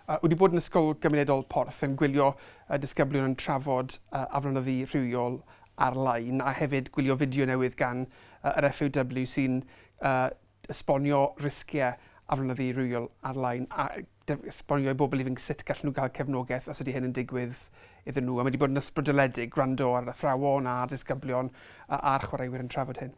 A wedi bod yn Ysgol Gymunedol Porth yn gwylio y disgyblion yn trafod aflonyddu rhywiol ar-lein a hefyd gwylio fideo newydd gan yr FAW sy'n esbonio risgiau aflonyddu rhywiol ar-lein a esbonio i bobl ifanc sut gallen nhw gael cefnogaeth os ydy hyn yn digwydd iddyn nhw a mae wedi bod yn ysbrydoledig gwrando ar athrawon, ar ddisgyblion a'r chwaraewyr yn trafod hyn.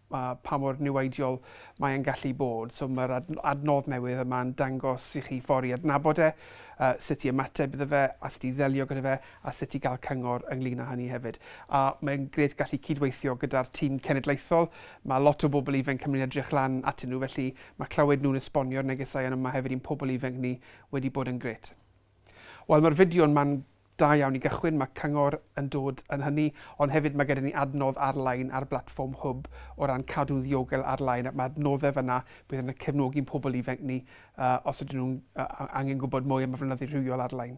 pa mor niweidiol mae e'n gallu bod. So mae'r adnodd newydd yma'n dangos i chi ffordd i adnabod e, sut i ymateb iddo fe, a sut i ddelio gyda fe, a sut i gael cyngor ynglyn â hynny hefyd. A mae'n gret gallu cydweithio gyda'r tîm cenedlaethol. Mae lot o bobl ifanc yn mynd i edrych lan atyn nhw, felly mae clywed nhw'n esbonio'r negesau yn yma hefyd i'n pobl ifanc ni wedi bod yn gret. Wel mae'r fideo'n man da iawn i gychwyn, mae cyngor yn dod yn hynny, ond hefyd mae gyda ni adnodd ar-lein ar blatfform Hwb o ran cadw'n ddiogel ar-lein ac mae adnoddau fan'na bydd yn cefnogi'n pobl ifanc ni uh, os ydyn nhw'n uh, angen gwybod mwy am y flynyddu rhywiol ar-lein.